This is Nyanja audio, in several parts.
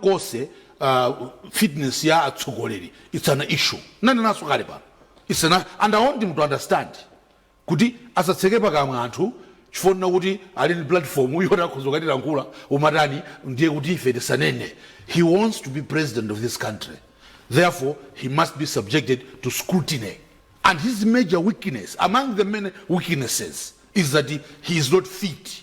kose uh, fitness ya atsogoleri it's an issue nanenanso kale pano it's an, and i want him to understand kuti asatseke pakamwa anthu chifukwa chonena kuti ali ndi platform yoti akhoza kukatilankhula umatani ndiye kuti ife tisanene he wants to be president of this country therefore he must be subjected to scrutiny and his major weakness among the many weaknesses is that he, he is not fit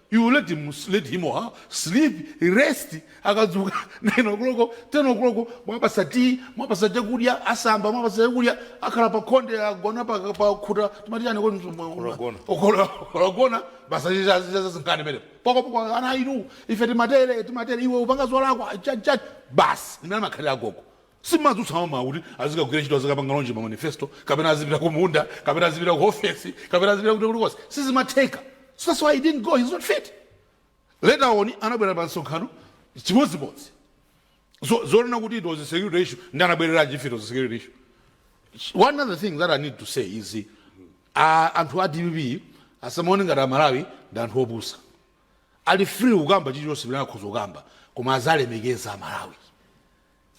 You let him, let him or her sleep, rest, akadzuka 9 o'clock, 10 o'clock, mwapatsa tea, mwapatsa chakudya, asamba, mwapatsa chakudya, akhala pa khonde, agona pa, pa khuta, timati chani kodi mtu- mwa- Kulagona. Okola- okolagona, basi chicha- chicha zazingani pene. Poko poko ana inu, ife timatere, timatere, iwe upanga zolakwa, chani chani, basi, ndi mmene amakhalira agogo. Simadzutsa mamawa kuti azikagwira ntchito azikapanga launch ma manifesto kapena azipita ku munda kapena azipita ku ofesi kapena azipita kuti kulikonse sizimatheka so that's why he didn't go he's not fit later on anabwera pa msonkhano chimodzimodzi so zonena kuti it was a security issue nde anabwereranji if it was a security issue one other thing that i need to say is uh, anthu a dpp asamaone ngati amalawi ndi anthu opusa ali free kukamba chilichonse chimene akhoza kukamba koma azalemekeza amalawi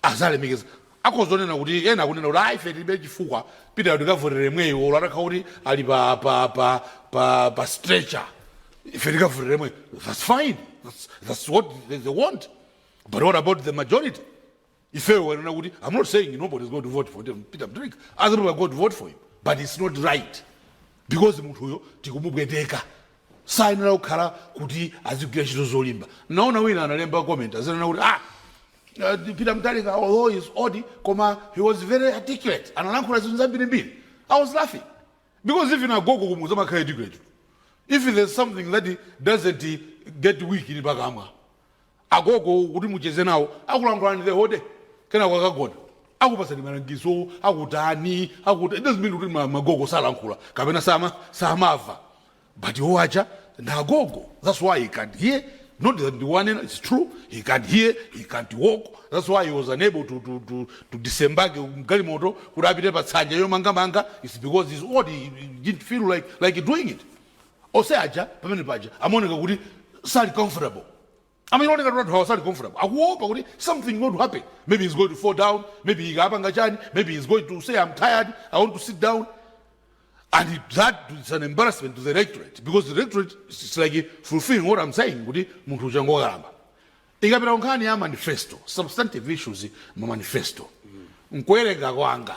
Azalemekeza akhoza kunena kuti ena akunena kuti ayi ife tilibe chifukwa pitani tikavotera yemweyo olo atakhala kuti ali pa pa pa pa pa stretcher ife tikavotera yemweyo that's fine that's, that's what they, they want but what about the majority ifeyo wanena kuti i'm not saying nobody is going to vote for them, peter mutharika other people are going to vote for him but it's not right because munthuyo tikumupweteka sayenera kukhala kuti azigwira ntchito zolimba naona wina analemba comment azinena kuti ah Peter mutharika although he is old koma he was very articulate analankhula zinthu zambiri mbiri i was laughing because even agogo kumudzi amakhala articulate tu if there is something that doesn't get weak ni pakamwa agogo kuti mucheze nawo akulankhulani the whole day kenako akagona akupatsani malangizo akutani akuta it doesn't mean kuti ma- magogo salankhula kapena sama samava but iwo aja nagogo that's why he can't hear not that ndiwanena it's true he can't hear he can't walk that's why he was unable to, to, to, to disembage mgalimoto kuti apite pa tsanja yomangamanga it's because he's old he, he didn't feel like, like doing it ose aja pamene paja amaoneka kuti sali comfortable Amaoneka ngati kuti anthu awa sali comfortable akuopa kuti something going to happen maybe he's going to fall down maybe akapanga chani maybe he's going to say i'm tired i want to sit down and it- that is an embarrassment to the electorate because the electorate is is like fulfilling what i'm saying kuti munthu uja ngokalamba tikabwera kunkhani ya manifesto substantive issues mu manifesto mkuwerenga kwanga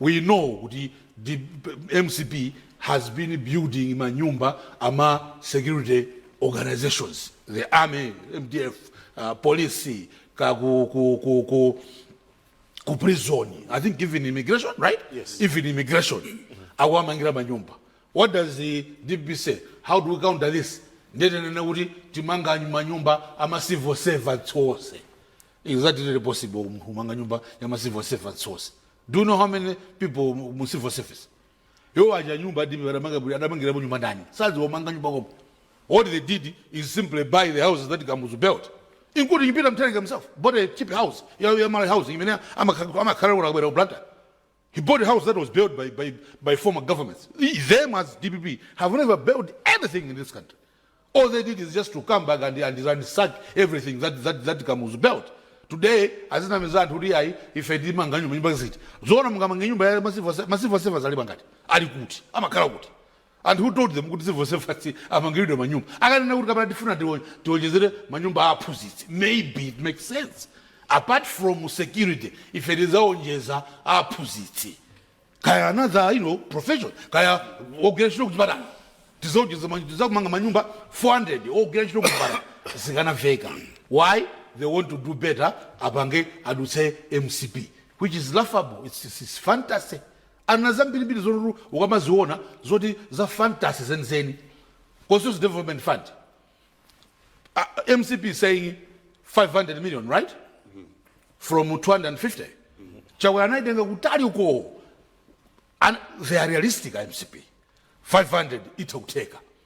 We know kuti mcp has been building manyumba ama security organizations the army mdf uh, police ka ku, ku, ku, ku, ku prison i think even immigration right Yes. even immigration akuwamangira manyumba what does the dpp say how do we counter this ndetenene kuti timanga manyumba ama civil servants onse Is that really possible kumanga nyumba ya ma civil servants onse. Do you know how many people mu- mu civil service? Yo aja nyumba adibe adamanga buli adamangira mu nyumba ndani. Sazi wamanga nyumba komo. All they did is simply buy the houses that Kamuzu built. Including Peter Mutharika himself, bought a cheap house, ya ya Malawi Housing, imene amakhala amakhala kuno akabwera ku Blantyre. He bought house that was built by, by, by former governments. Them as DPP have never built anything in this country. All they did is just to come back and, and ransack everything that, that, that Kamuzu built. Today azinamiza anthu kuti ayi ife timanga nyumba nyumba ziti zoona mungamange nyumba ya masivo masivo servants alipo angati ali kuti amakhala kuti And who told them kuti civil servants amangiridwe manyumba? Akanena kuti kapena tifuna tiwonjezere manyumba a aphunzitsi maybe it makes sense. Apart from security ife tizaonjeza a aphunzitsi kaya another you know, profession kaya ogwira ntchito kuchipatala tizaonjeza ma- tizamanga manyumba 400 ogwira ntchito kuchipatala zikanaveka. Why? They want to do better apange adutse MCP which is laughable. It's, it's, it's fantasy. Ali na zambirimbiri zoti ukamaziona zoti za fantasy zenizeni. Constituency Development Fund. Ah, mcp is saying 500 million right from 250 chakwera anaitenga kutali uko And they are realistic a mcp 500 itha kutheka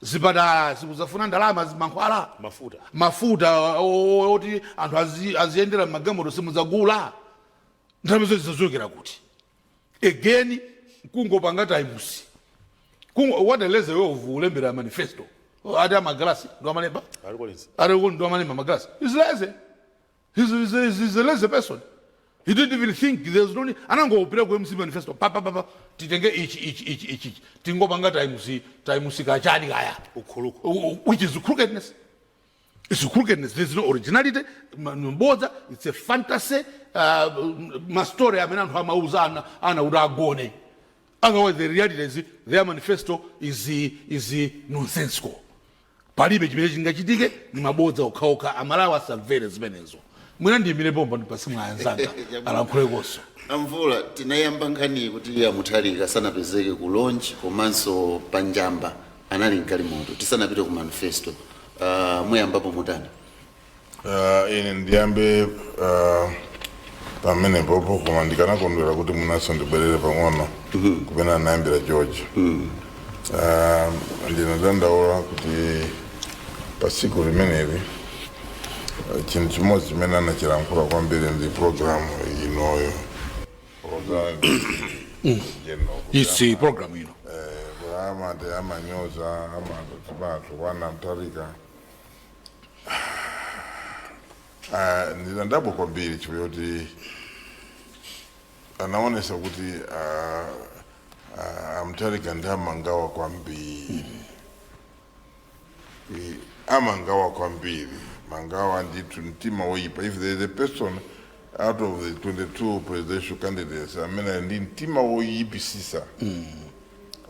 zipatala simuzafuna ndalama za mankhwala Mafuta. mafuta o- o- oti anthu azi- aziyendera magalimoto simudzagula ndalama zake zizachokera kuti again kungopanga times Kungo- what a lazy way of ulembera manifesto ati amagalasi ndo amalemba ati ndo amalemba amagalasi he's lazy He's, he's, he's, he's a lazy person. He didn't even think there's no need. Anangopita ku MCP manifesto pa pa pa pa titenge ichi ichi ichi ichi ichi. tingopanga times times kachani kaya ukuluku U- u- which is crookedness. It's crookedness. There's no originality. Ma- Mbodza. It's a fantasy. Uh, mastori amene anthu amauza ana ana kuti agone. otherwise the reality is their manifesto is, is nonsensical palibe chimene chingachitike ni mabodza okhaokha Amalawi asamvere zimenezo mwina ndiyimire pompa ndipatse mwayi anzanga alankhulekonso a Mvula tinayamba nkhani kuti a Mutharika sanapezeke ku launch komanso pa Njamba anali mgalimoto tisanapite ku manifesto uh, muyamba pomwe mutani Uh, ine ndiyambe uh, pamenepopo koma ndikanakondwera kuti mwinanso ndibwerere pang'ono kumene anayambira George uh, ndinadandaula kuti pa tsiku limeneli uh, chinthu chimodzi chimene achilankhula kwambiri ndi programu inoyo programu general kuti this programu ino amati amanyoza amati chipatso kwa a Mutharika Ah, ndinadabwa kwambiri chifukwa choti anaonesa kuti ah, ah, a Mutharika ndi amangawa kwambiri Eh, amangawa kwambiri mangawa ndithu mtima woyipa if there is a person out of the 22 presidential candidates amene ali ndi mtima woyipisisa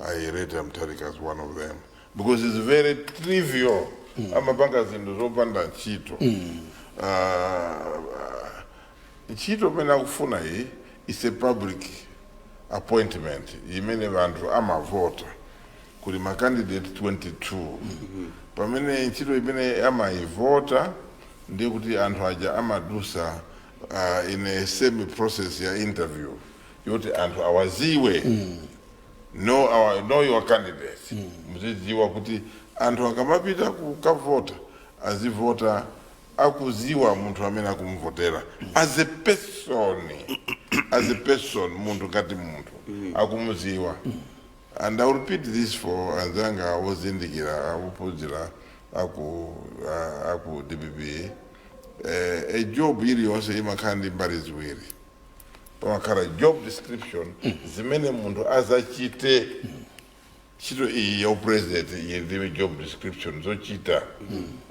I rate a Mutharika as one of them. because its very trivial mm. amapanga zinthu zopanda ntchito mm. uh, ntchito imene akufuna iyi is a public appointment imene vanthu amavota kuli macandidate 22 mm -hmm. pamene ntchito imene amaivota ndiye kuti anthu aja amadusa uh, in a same process ya interview yoti anthu awaziwe know, our, know your candidates muzidziwa kuti anthu akamapita kukavota azivota akuziwa munthu amene akumvotera as a person as a person munthu ngati munthu akumuziwa and i will repeat this for anzanga ozindikira ophunzira aku ah, aku dpp eh, a job iliyonse imakhala ndi mbali ziwiri pamakhala job description zimene munthu azachite ntchito iyi ya upresident iyi ndiye job description zochita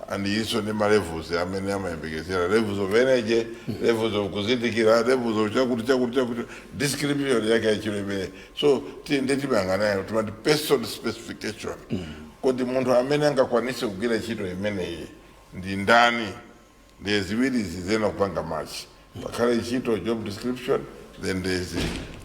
and ilinso ndi malevels amene amayembekezera levels of energy levels of kuzindikira levels of chakuti chakuti chakuti description yake ya ntchito imene so ti- ndi timayang'anayo timati person specification kodi munthu amene angakwanise kugwira ntchito imeneyi ndi ndani Ndiye ziwirizi ziyenera kupanga match. Pakhale ntchito job description then there is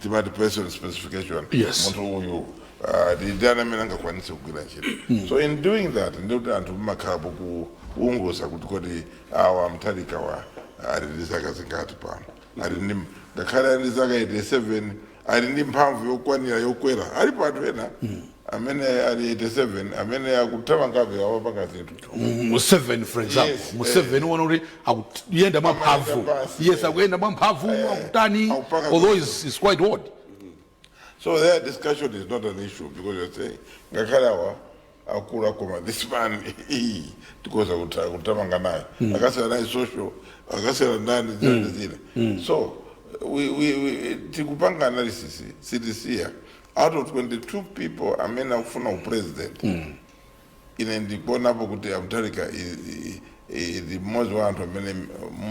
timati person specification. Yes. Munthu uyu ah, ndi ndani amene angakwanitse kugwira ntchito. So in doing that ndi kuti anthu mumakhala pokuunguza kuti kodi awa Mutharikawa ali ndi zaka zingati pano. Ali ndi ngakhale ali ndi zaka 87 ali ndi mphamvu yokwanira yokwera alipo anthu ena amene ali 87 amene akuthamangabe awapanga zinthu Museveni for example Yes, Mu eh. seveni uona kuti akuyenda mwa mphamvu Amayenda pansi, yes eh. akuyenda mwa mphamvu akutani akupanga although he is quite old so the age discussion is not an issue because you're saying ngakhale awa akula koma this man hii, tikhoza kuta- kutamanga naye akaseka naye social akaseka ndani zina zina so we, we, we, tikupanga analysis sitisiya out of 22 people amene akufuna upresident ine ndikuonapo kuti a Mutharika ndi mmodzi wa anthu amene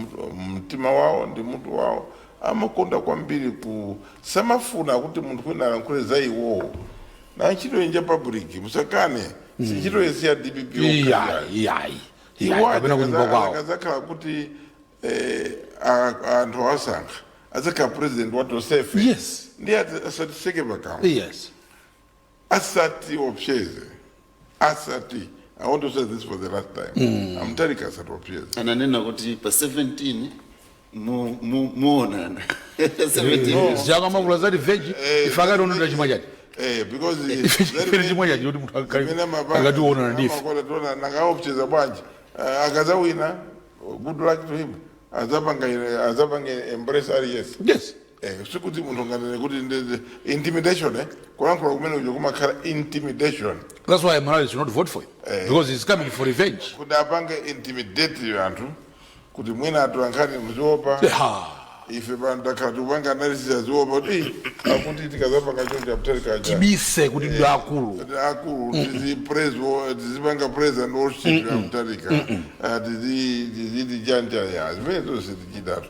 mtu- mtima wawo ndi mutu wawo amakonda kwambiri ku samafuna kuti munthu wina alankhule za iwowo na ntchito inja public musakane si ntchito yense ya dpp iyayi okhayayi iyayi iyayi kapena kunyumba kwawo akazakhala kuti eh, a- a- anthu awasankha adzakhala president wa tonsefe Yes. ndi adza- asatiseke pakamwa yes asatiopseze asati i want to say this for the last time a Mutharika asatiopseze ananena kuti pa 17 Mu- mu- muonana 17 No. years. akamayankhula za revenge Eh, ife akationonga chifukwa chati Eh, because chimene chifukwa chati choti munthu zimene amapanga- akati uonana ndife amakola tiona nanga aopseza bwanji Eh, akazawina good luck to him azapanga azapanga embrace yes yes Eh, sikuti munthu anganene kuti ndi- ndi- intimidation eh? kulankhula kumene uja kumakhala intimidation That's why Malawi should not vote for him. Because he's coming for revenge. kuti apange intimidate anthu kuti mwina atolankhani muziopa Ha. ife pano takhala tikupanga analysis aziopa kuti "Ih, akuti tikazapanga choncho Mutharika aja Tibise kuti ndi akulu. Kuti akulu tizi praise wo- tizipanga praise and worship ya Mutharika Ah, tizi tiziti chanja ya zimenezo sitichitatu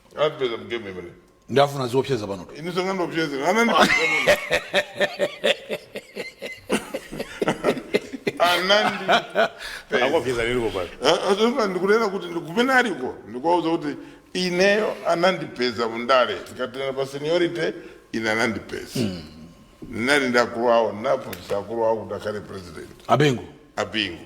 Apeza m'game mene. ndafuna ziopseza pano Ine sangandiopseze. Anandipeza. Anandi. Akopyeza ndilipo kale. Azofa ndikunena kuti ndi kumene aliko. Ndikuwauza kuti ineyo anandipeza mundale. Tikanena pa seniority ine anandipeza. Ndinali ndi akulu awo ndinaphunzitsa akulu awo kuti akhale president. abingu Abingu.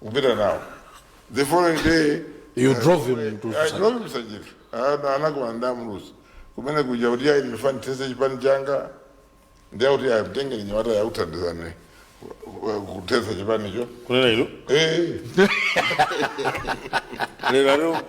kupita nawo the following day You uh, drove him to I Sanjika. drove him Sanjika. Ana- anakumana ndi a Muluzi kumene kuja kuti ayi ndifuna ndithetse chipani changa ndiye kuti ayi mtenge mnyamatayu muthandizane kuthetsa chipanicho kunena ilo eh lero lero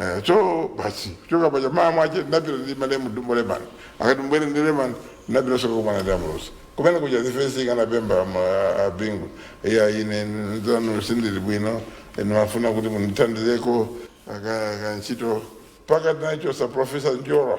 Eh, so basi kuchoka paja mmawa mwache ndapita ndi malemu dumbo lemani akati mbwere ndi lemani ndapita soka kumana ndi a Muluzi kumene kuja zifensi ikanapempha ma- abingu iya ine zanu sindili bwino ndimafuna kuti mundithandizeko aka aka ntchito mpaka tinachotsa profesa njora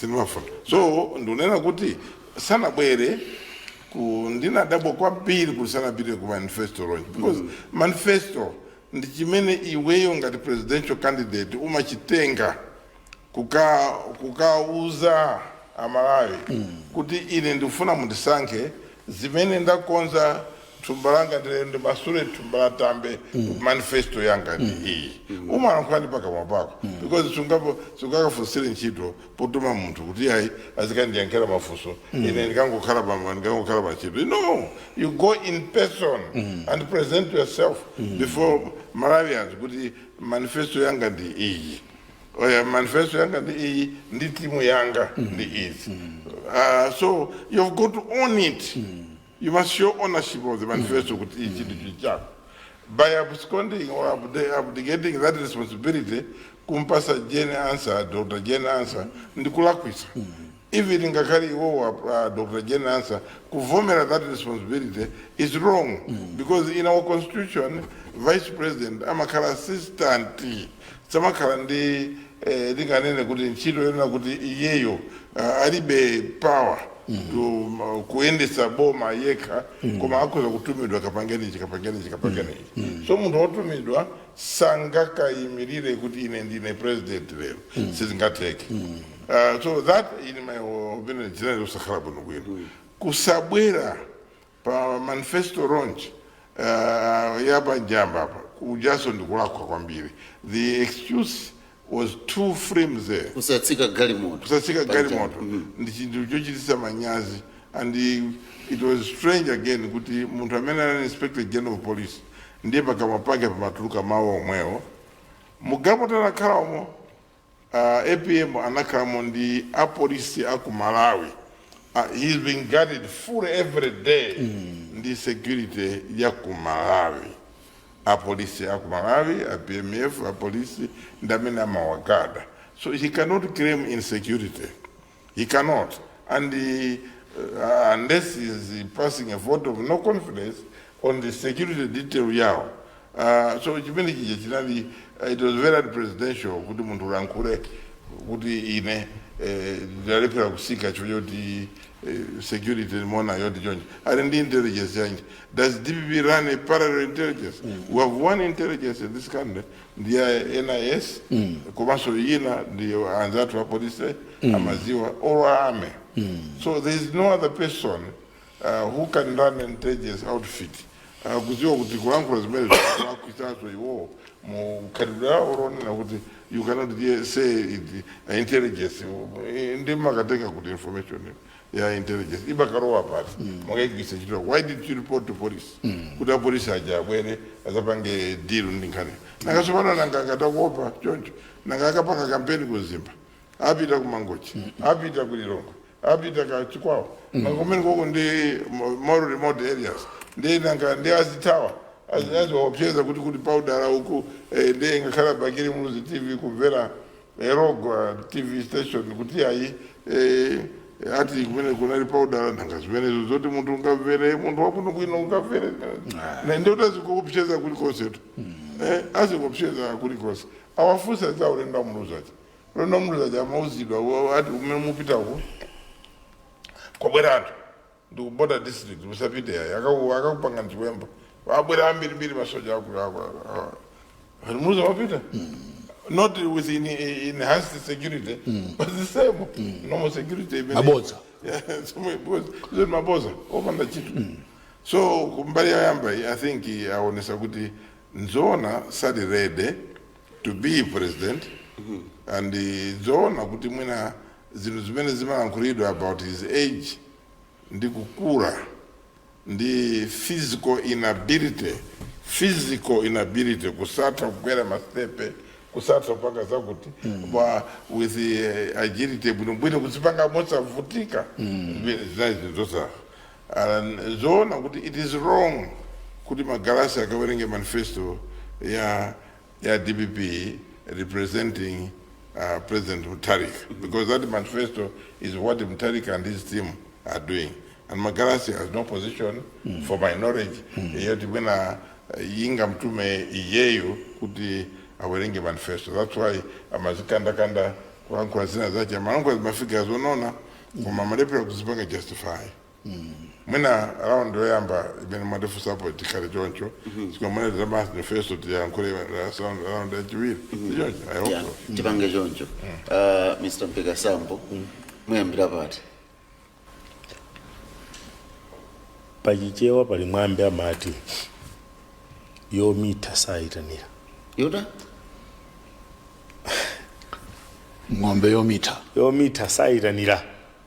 sindimafuna so ndikunena kuti sanabwere ku ndinadabwa kwambiri kuti sanapite ku manifesto launch because manifesto ndi chimene iweyo ngati presidential candidate umachitenga kuka kukauza amalawi kuti ine ndikufuna mundisankhe zimene ndakonza thumba langa ndilero ndimasule thumba la tambe manifesto yanga ndi iyi umalankhula ndi pakamwa pako because sungapo sungakafunsire ntchito potuma munthu kuti ayi azikandiyankhira mafunso ine ndikangokhala pa ndikangokhala pa ntchito no you go in person and present yourself before malawians kuti manifesto yanga ndi iyi Oya, manifesto yanga ndi iyi ndi timu yanga ndi izi Ah, so you've got to own it You must show ownership of the manifesto kuti ichi ndi chinthu chako. By absconding or abde- abdicating that responsibility kumpasa Jane Ansah, Dr. Jane Ansah ndi kulakwisa. Even ngakhale iwowa uh, Dr. Jane Ansah kuvomera that responsibility is wrong because in our constitution vice president amakhala assistant Samakhala ndi eh, tinganene kuti ntchito yonena kuti iyeyo ah, alibe power to ma- kuyendetsa boma yekha koma akhoza kutumidwa kapangenechi kapangenechi kapangenechi so munthu wotumidwa sangakayimirire kuti ine ndine president lero sizingatheke Ah, so that in my opinion chinali kusakhala bwinobwino kusabwera Pa manifesto launch ya pa Njamba apa kujaso ndikulakwa kwambiri the excuse was too flimsy. Kusatsika galimoto Kusatsika pa Njamba. galimoto Mm. ndi chinthu chochititsa manyazi and it was strange again kuti munthu amene anali inspector general of police ndiye pakamwa pake pamatuluka mawu omwewo mugapo talakhalamo A apm anakhalamo ndi a police a ku Malawi a he is being guarded fully every day ndi security ya ku Malawi a police a ku Malawi a PMF a police ndi amene amawagada so he cannot claim insecurity. He cannot and uh, unless he is passing a vote of no confidence on the security detail yawo uh, so chimene chija chinali uh, it was very unpresidential kuti munthu ulankhule kuti ine eh, ndalephera kusika chifukwa choti eh, security mona yoti chonje ali ndi intelligence yanji does dpp run a parallel intelligence we have one intelligence in this country ndi a NIS komanso ina ndi anzathu apolice amaziwa or a army so there is no other person uh, who can run an intelligence outfit uh, kuziwa kuti kulankhula zimenezo akwisazo iwowo mukhalidwe wawo wonena kuti you cannot hear- say it, uh, intelligence nde mukatenga kuti information ya intelligence imakalowa pati mukaigwiritsa ntchito why didn't you report to police kuti apolisi aja abwere azapange deal ndi nkhani nanga tsopano nanga ngati akuopa choncho nanga akapanga kampeni ku mzimba apita ku mangochi apita ku lilongwe apita ku chikwawa nanga kumene koko ndi mo- more remote areas ndi nanga ndi azithawa aziwaopseza kuti kuti paudala uku eh, ndi ngakhale bakiri muluzi tv kumvera ero kwa tv station kuti ayi eh, ati kumene kunali paudala nanga zimenezo zoti munthu ungamvere munthu wabwinobwino ungamvere nde ndiye atazikuopseza kulikonsetu eh, azikuopseza kulikonse awafunsa za ulendo amuluzaja ulendo amuluzaja amauzidwa wa- ati kumene mupitako kwabwera anthu ndi ku border district musapite ayi akaku akakupangani chiwembu abwera ambiri mbiri asoja aku aku aku Muluzi wapita not with in, enhanced security but the same normal security imene Mabodza. Yeah, somwe bodza zoti mabodza opanda ntchito so kumbali yoyamba iyi, i think aonesa kuti nzoona sali ready to be president and eh, nzoona kuti mwina zinthu zimene zimalankhulidwa about his age ndi kukula ndi physical inability physical inability kusatha kukwera masitepe kusatha kupanga zakuti koma with eh, agility bwinobwino kuzipanga mosavutika zinali zinthu zosafa And nzoona kuti it is wrong kuti Magalasi akawerenge manifesto ya ya DPP representing uh, President Mutharika because that manifesto is what Mutharika and his team are doing. And Magalasi has no position mm. for my knowledge. Mm. Yet mwina angamtume iyeyo kuti awerenge manifesto that's why amazikandakanda kulankhula zina zache amalankhula zimafika zoona koma amalephera kuzipanga justify mwina round yoyamba imene mwatifunsapo tikhale choncho koma mwina za manifesto tiyankhule round yachiwiri sichoncho i hope Yeah, so tipange choncho Ah, Mr Mpeka Sambo muyambira pati pachichewa pali mwambi amati yomitha sayitanira ng'ombe yomitha yomitha sayitanira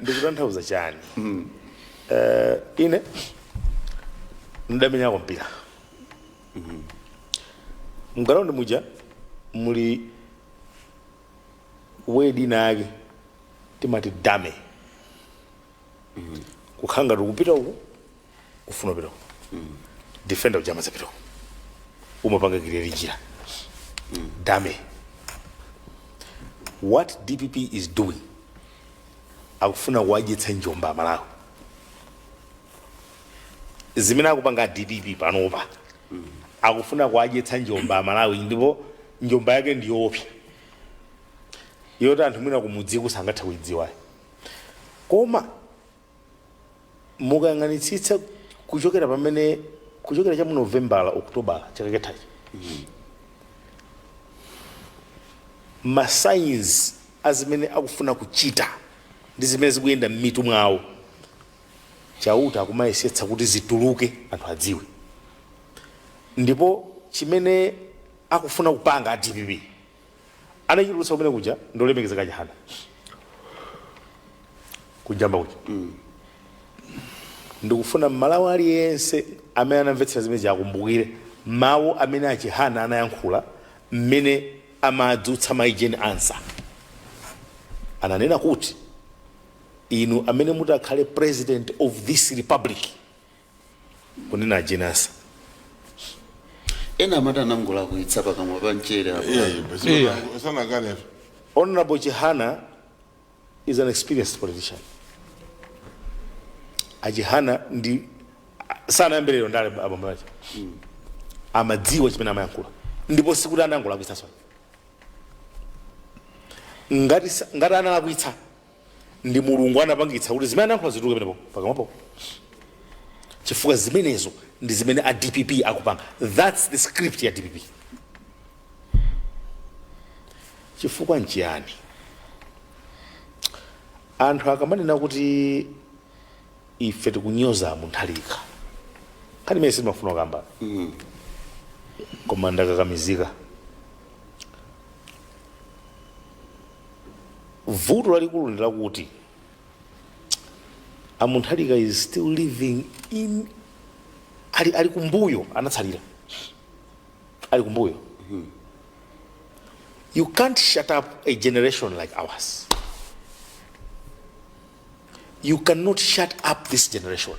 ndikutanthauza chani Eh, ine ndamenyako mpira mgalaundi muja muli wedi inayake timati dummy kukhala ngati ukupita uku kufuna upite uko defender uja amazapita uko umapanga create njira dummy what DPP is doing akufuna kuwadyetsa njomba aMalawi zimene akupanga a DPP panopa akufuna kuwadyetsa njomba aMalawi ndipo njomba yake ndiyoopsa yoti anthu mwina kumudziku sangatha kuidziwayo koma mukayang'anitsitsa kuchokera pamene kuchokera cha mu Novembala Okutobala chaka chathachi ma signs a zimene akufuna kuchita ndi zimene zikuyenda m'mitu mwawo chauta akumayesetsa kuti zituluke anthu adziwe ndipo chimene akufuna kupanga a DPP anachitulutsa kumene kuja ndi olemekezeka Chihana ku Njamba kuja ndikufuna mmalawi aliyense amene anamvetsera zimene zija akumbukire mawu amene achihana anayankhula mmene amadzutsa mai jane ansah ananena kuti inu amene mudzakhale president of this republic kunena a Jane Ansah ena amati anangolakwitsa pakamwa pa mchere apo. Yeah. sanakanepo Honorable Chihana is an experienced politician. Achihana ndithu sanayambe lero ndale abambo ake. Amadziwa chimene amayankhula. Ndipo sikuti anangolakwitsa sona. Ngati sa- ngati analakwitsa ndi mulungu anapangitsa kuti zimene anayankhula zituluke penepo pakamwapo chifukwa zimenezo ndi zimene a dpp akupanga thats the script ya dpp chifukwa nchiyani anthu akamanena kuti ife tikunyoza mutharika nkhani imene sitimafuna kamba koma ndakakamizika vuto lalikulu ndi lakuti a mutharika is still living in ali, ali kumbuyo anatsalira ali kumbuyo you can't shut up a generation like ours you cannot shut up this generation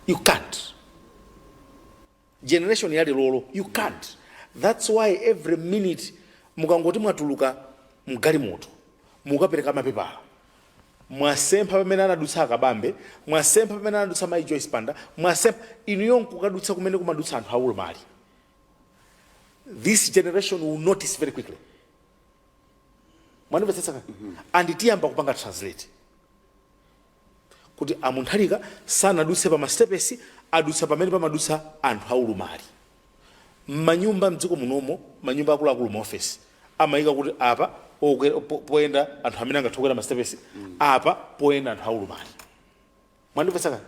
you can't generation yathu ya leroyi you can't that's why every minute mukangoti mwatulukamo mgalimoto mukapereka mapepala mwasempha pamene anadutsa akabambe mwasempha pamene anadutsa mai joyce banda mwasempha inuyo nkukadutsa kumene kumadutsa anthu aulumali this generation will notice very quickly mwandimvetsetsa mm -hmm. and tiyamba kupanga translate kuti a Mutharika sanadutse pa masitepesi, adutsa pamene pamadutsa anthu aulumali. M'manyumba m'dziko munomo, manyumba akuluakulu, maofesi, amayika kuti apa okwera, po, poyenda anthu amene angathe kukwera masitepesi, apa poyenda anthu aulumali. Mwandimvetsa kaya?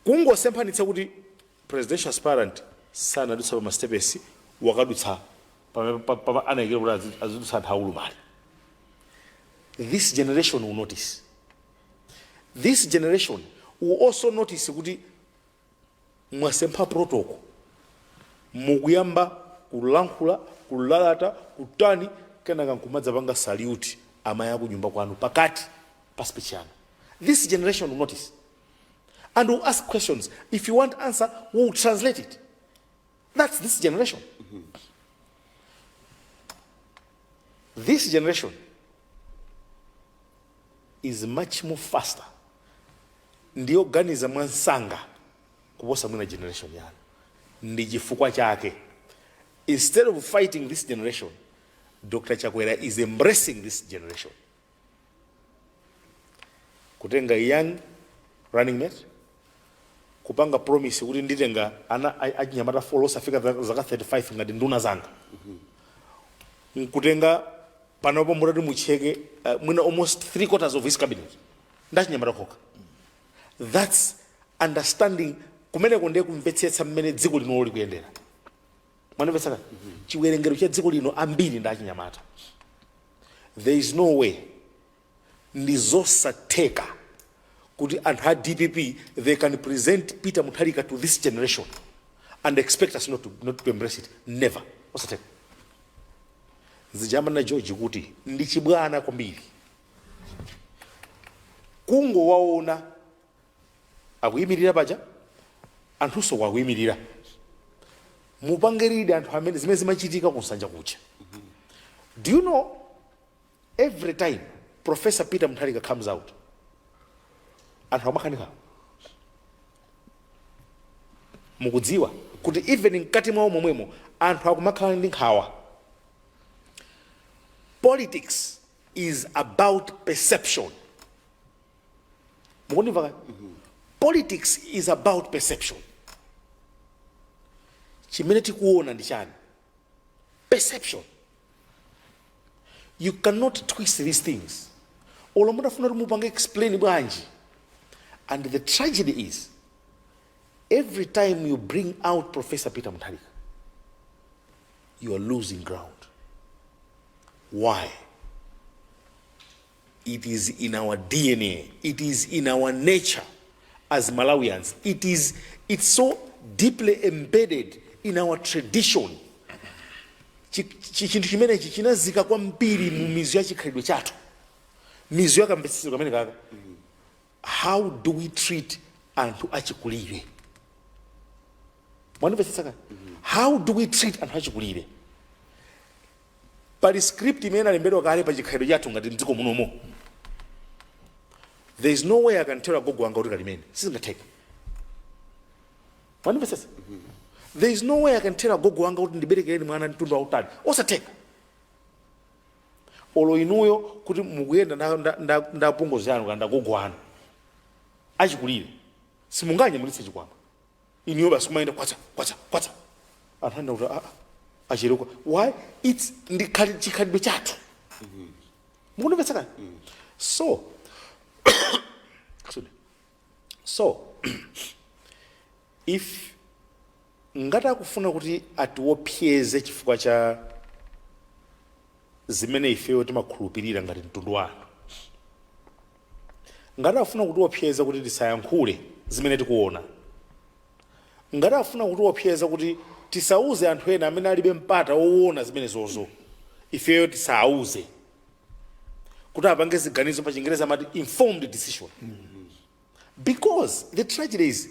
Kungosemphanitsa kuti presidential aspirant sanadutse pa masitepesi, wakadutsa pamene pa- pa- anayikira kuti azi- azidutsa anthu aulumali. This generation will notice. This generation will also notice kuti mwasempha protocol mukuyamba kulankhula kulalata kutani kenaka nkumadzapanga salute amayi akunyumba kwanu pakati pa speech yanu this generation will notice and will ask questions if you won't answer we will translate it That's this generation. This generation is much more faster ndiyoganiza mwamsanga kuposa mwina generation yanu ndi chifukwa chake instead of fighting this generation dr chakwera is embracing this generation kutenga young running mate kupanga promise kuti nditenga ana a- achinyamata folo osafika za- zaka 35 ngati nduna zanga nkutenga panopo mutati mucheke uh, mwina almost three quarters of his cabinet ndachinyamata kokha that's understanding kumeneko ndiye kumvetsetsa mmene dziko linolo likuyendera Mwandimvetsa? Chiwerengero cha dziko lino ambiri ndi achinyamata. There is no way, ndizosatheka kuti anthu a dpp they can present Peter Mutharika to this generation and expect us not to, not to embrace it. Never. Osatheka. Zija amanena George kuti ndi chibwana kwambiri. Kungowaona akuyimirira paja anthunso wa akuyimirira mupange read anthu amene zimene zimachitika kunsanja kuja do you know every time professor peter mutharika comes out anthu amakhala ndi nkhawa mukudziwa kuti even mkati mwawo momwemo anthu akumakhala ndi nkhawa politics is about perception mukundimva kaya politics is about perception chimene tikuona ndi chani perception you cannot twist these things olo mutafuna kuti mupange explain bwanji and the tragedy is every time you bring out professor peter mutharika you are losing ground why It is in our dna, it is in our nature as Malawians, it is it's so deeply embedded in our tradition. Chi- chi- Chinthu chimenechi chinazika kwambiri mu mizu ya chikhalidwe chathu, mizu ya kamvetsetsedwe kameneka ka. How do we treat anthu achikulire? Mwanimvetsetsa kani? How do we treat anthu achikulire? pali script imene inalembedwa kale pa chikhalidwe chathu ngati mdziko munomo there is no way I can tell agogo anga kuti kalimeni sizingatheke mwandimvetsetsa there is no way I can tell agogo anga kuti ndiberekereni mwana mtunda wautali osatheka olo inuyo kuti mukuyenda nda- nda- nda- nda apongozi anu kana ndagogo anu achikulire simunganyamulitse chikwama inuyo basi kumayenda kwacha kwacha kwacha anthu anena kuti aa acherekwa why its ndi khali- chikhalidwe chathu mukunimvetsa kani so Excuse me. so if ngati akufuna kuti atiopseze chifukwa cha zimene ifeyo timakhulupirira ngati mtundu wa anthu Ngati afuna kutiwopseza kuti tisayankhule zimene tikuona, ngati afuna kutiwopseza kuti tisauze anthu ena amene alibe mpata woona zimenezozo, ifeyo tisawauze, kuti apange ziganizo, pachingereza amati informed decision, because the tragedy is,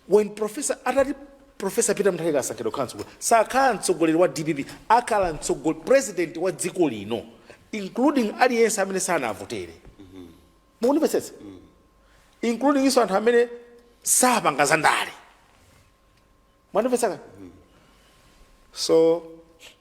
When professor atati Professor Peter Mutharika asankhidwa kukhala mtsogoleri sakhala mtsogoleri wa DPP akhala mtsogo president wa dziko lino including aliyense amene sanavotere mukundimvetsetsa including iso anthu amene sapanga za ndale mwandimvetsa so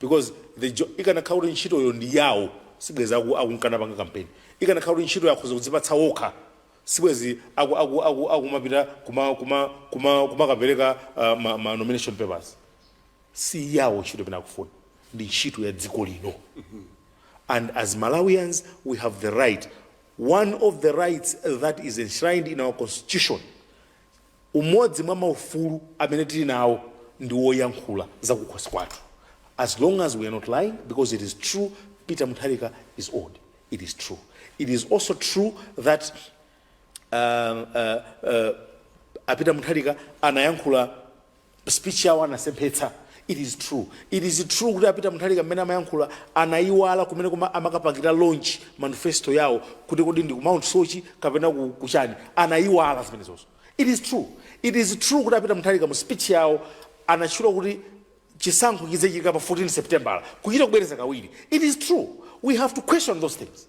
because the jo ikanakhala kuti ntchitoyo ndi yawo sibwezi aku akunkana panga kampeni ikanakhala kuti ntchitoyo akhoza kudzipatsa wokha sibwezi aku aku aku akumapita kuma kuma kuma kumakapereka uh, ma, ma nomination papers si yawo ntchito imene akufuna ndi ntchito ya dziko lino and as malawians we have the right one of the rights that is enshrined in our constitution Umodzi mwa maufulu amene tili nawo ndi woyankhula za kukhosi kwathu as long as we are not lying because it is true Peter Mutharika is old it is true it is also true that uh, uh, uh, a Peter Mutharika anayankhula speech yawo anasemphetsa it is true it is true kuti a Peter Mutharika mmene amayankhula anaiwala kumene kuma amakapangira launch manifesto yawo kuti kodi ndi ku Mount Soche kapena ku, kuchani anaiwala zimenezozo it is true it is true kuti a Peter Mutharika mu speech yawo anatchula kuti chisankho chidzachitika pa 14 September kuchita kubwereza kawiri it is true we have to question those things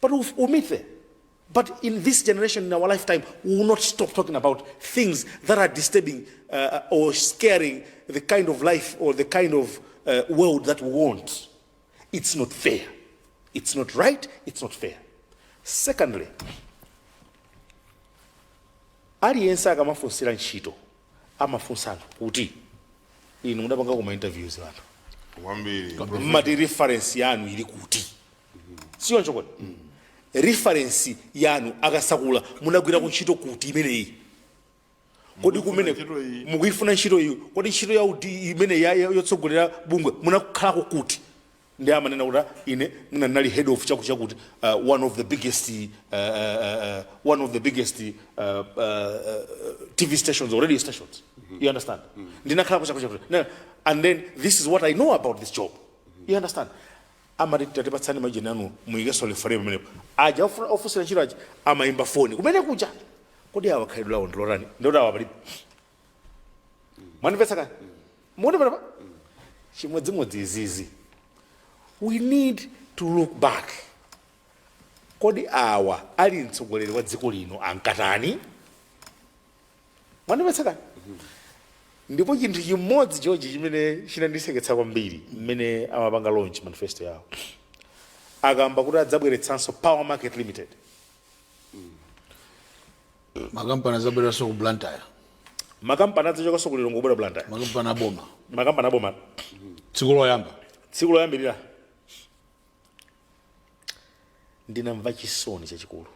but we'll, we'll meet there but in this generation in our lifetime we will not stop talking about things that are disturbing uh, or scaring the kind of life or the kind of uh, world that we want it's not fair it's not right it's not fair secondly aliyense akamafunsira ntchito amafunsa anthu kuti inu mudapanga kuma interviews anthu kwambiri mmati reference yanu ili kuti sichoncho kodi reference yanu akasakula munagwirako ntchito kuti imeneyi kodi kumene ntchito iyi. mukuyifuna ntchito iyi kodi ntchito ya udindo imene ya- ya- yotsogolera bungwe munakhalako kuti ndiye amanena kuti "Ah, ine mwina ndinali head of chakuti chakuti uh, one of the biggest uh, uh, uh, one of the biggest uh, uh, uh, tv stations or radio stations you understand ndinakhalako chakuti chakuti Now, and then this is what i know about this job you understand amati tatipatsani majina anu muyikenso referee pamenepo aja ofuna- ofunsira ntchito aja amayimba foni kumene kuja kodi awa khalidwe lawo ndilotani ndiye ati awa palibe mwandimvetsa kani mukuti pano chimodzimodzi izizi we need to look back kodi awa ali mtsogoleri wa dziko lino ankatani mwandimvetsa kani ndipo chinthu chimodzi chochi chimene chinandiseketsa kwambiri mmene amapanga launch manifesto yawo akamba kuti adzabweretsanso Power Market Limited makampani azabwereranso ku Blantyre makampani adzachokanso ku Lilongwe kubwera Blantyre makampani aboma makampani aboma tsiku loyamba tsiku loyambirira ndinamva chisoni chachikulu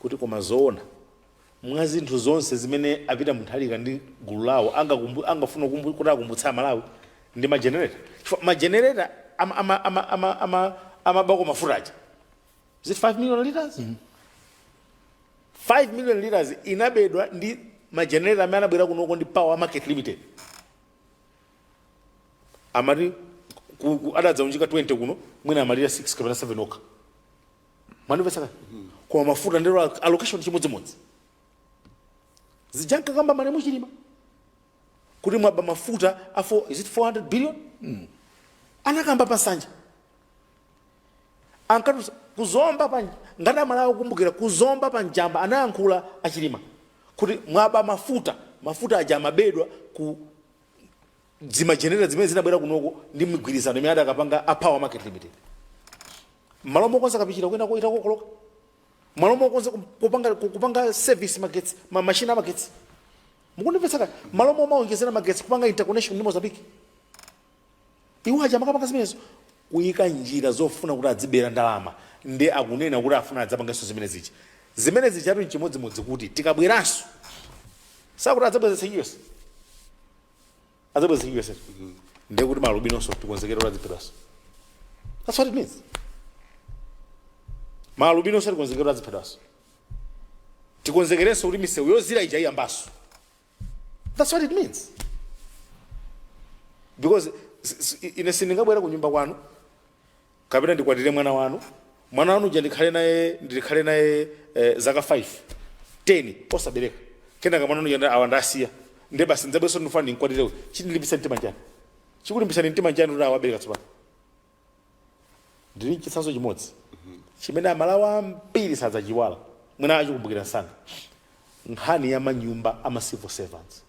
kuti koma zoona mwa zinthu zonse zimene a peter mutharika ndi gulu lawo angakumbu- angafuna kumbu- kuti akumbutsa amalawi ndi majenereta chifukwa majenereta amabako ama, ama, ama, ama, amabako mafuta aja is it 5 million liters 5 million liters inabedwa ndi majenereta amene anabwera kunoko ndi power market limited amati ku- ku- adadzaunjika 20 kuno mwina amalira 6 kapena 7 okha mwandimvetsa kale koma mafuta ndero al- allocation chimodzimodzi zija ankakamba malemu chilima kuti mwaba mafuta a 4 is it 400 billion anakamba pansanja ankati kuzomba pa ngati amalawi akukumbukira kuzomba pa njamba anayankhula achilima kuti mwaba mafuta mafuta aja amabedwa ku dzima generator dzimene zinabwera kunoko ndi migwirizano imene adakapanga a power market limited mmalo mokonza kapichira kwinako itakokoloka mmalo mokonza kupanga, kupanga service magetsi ma machine amagetsi mukundimvetsa kaya mmalo momaonjezera magetsi kupanga interconnection ndi mozambique Iwo aja amakapanga zimenezo kuika njira zofuna kuti adzibera ndalama nde akunena kuti afuna adzapangenso zimene zija. Zimene zijatu n'chimodzimodzi kuti tikabweranso sakuti adzabwezetsa US? Adzabwezetsa US eti? Nde kuti ma alubinonso tikonzekere kuti adziphedwanso. That's what it means. Ma alubinonso tikonzekere kuti adziphedwanso. Tikonzekerenso kuti misewu yozira ija iyambanso. that's what it means because s- s- ine sindingabwera ku nyumba kwanu kapena ndikwatire mwana wanu mwana wanu uja ndikhale naye ndikhale naye eh, zaka 5 10 osabereka kenaka mwana wanu uja awa ndasiya nde basi ndidzabwerenso ndifuna ndinkwatirewe chindilimbisa mtima nchani chikulimbisani mtima nchani kuti awabereka tsopano Ndili ndi chitsanzo chimodzi chimene Amalawi ambiri sadzachiiwala, mwina achikumbukira msanga, nkhani ya manyumba a ma civil servants.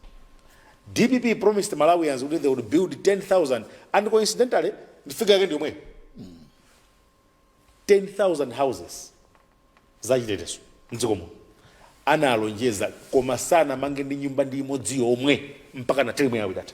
Dpp promised Malawians kuti they would build 10,000 and coincidentally ndi figure yake ndi yomweyo, 10,000 houses za chitetezo m'dziko muno analonjeza, koma sanamange ndi nyumba ndi imodzi yomwe mpaka na term yawo itatha.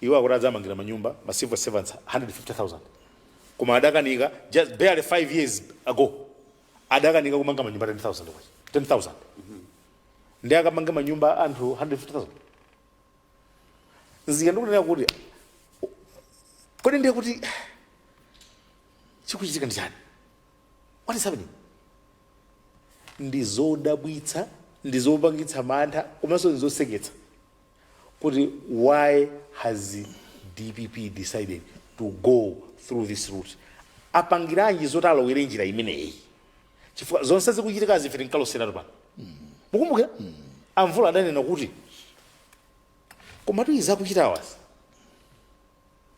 Iwo akuti adzamangira manyumba ma civil servants 150,000 koma adakanika just barely 5 years ago adakanika kumanga manyumba 10,000 kwacha 10,000 nde akamange manyumba anthu 150,000 nzika ndikunena kuti kodi ndiye kuti chikuchitika ndi chani what is happening ndi zodabwitsa ndi zopangitsa mantha komanso ndi zoseketsa kuti why has dpp decided to go through this route apangiranji zoti alowere njira imeneyi chifukwa zonse zikuchitikazi ife tinkaloseratu pano mukumbukira amvula adanena kuti komatu izi akuchitawazi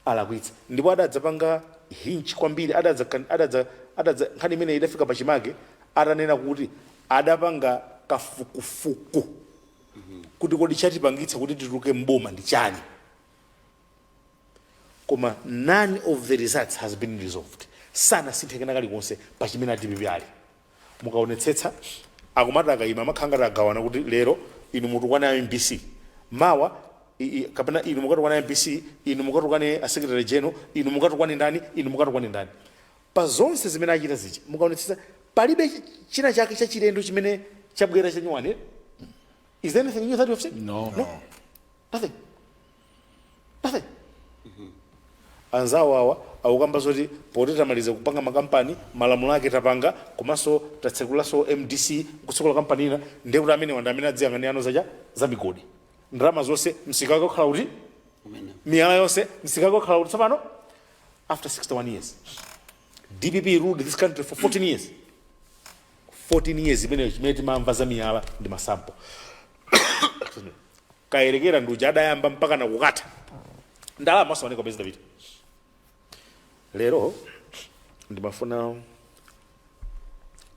alakwitsa ndipo adadzapanga hinch kwambiri, adadza, adadza, adadza, nkhani imeneyi idafika pachimake atanena kuti adapanga kafukufuku kuti kodi chatipangitsa kuti tituluke m'boma ndi chani, koma none of the results has been resolved, sanasinthe kena kalikonse pa chimene a dpp ali. Mukaonetsetsa akumati akaima amakhala ngati agawana kuti lero inu mutukwane a mbc mawa i, i, kapena inu mukatukwane a mbc inu mukatukwane a secretary general inu mukatukwane ndani inu mukatukwane ndani pa zonse zimene achita zija mukaonetsetsa palibe chi- china chake chachilendo chimene chabwera chanyuwani is there anything new that you have seen No. nothing Anzawo awa akukamba zoti poti tamaliza kupanga makampani, malamulo ake tapanga komanso tatsekulaso mdc nkutsekula kampani ina ndiye kuti amenewa ndi amene adziyang'anirano zacha za migodi. Ndalama zonse msika wake ukhala uti? Miyala yonse msika wake ukhala uti tsopano? After 61 years. Dpp ruled this country for 14 years. 14 years imeneyo chimene timamva za miyala ndi masampo. kayelekera ndi uja adayamba mpakana kukatha ndalama osaoneka pezi davide lero ndimafuna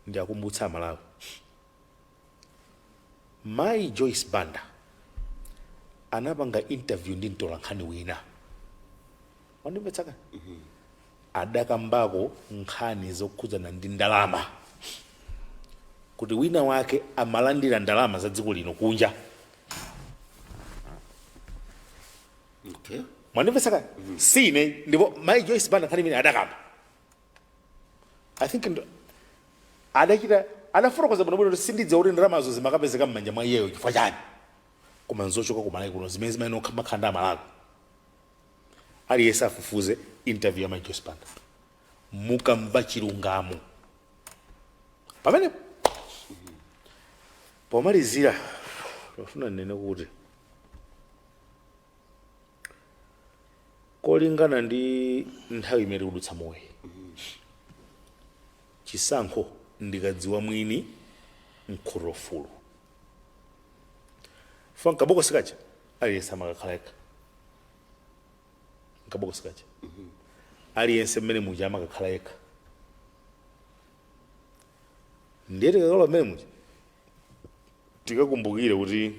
ndiakumbutse amalawi mayi joyce banda anapanga interview ndi mtolankhani wina wandimvetsaka adakambako nkhani zokhudzana ndi ndalama kuti wina wake amalandira ndalama za dziko lino kunja okay mwandimvesa kale si ine ndipo mai joyce banda nkhani imene adakamba i think ndo- adachita adafotokoza bwinobwino kuti sindidziwa kuti ndalamazo zimakapezeka m'manja mwa iyeyo chifukwa chani koma nzochoka ku malawi kuno zimene zimayenera kumakhala ndi amalawi aliyese afufuze interview ya mai Joyce Banda mukamva chilungamo pamenepo pomalizira ndofuna ndinene kuti kolingana ndi nthawi imene tikudutsamoyi chisankho ndi kadziwa mwini mkhuto wa fulu chifukwa m'kabokosi kaja aliyese amakakhala yekha nkabokosi kaja aliyense mmene muja amakakhala yekha ndiye tikakalowa mmene muja tikakumbukire kuti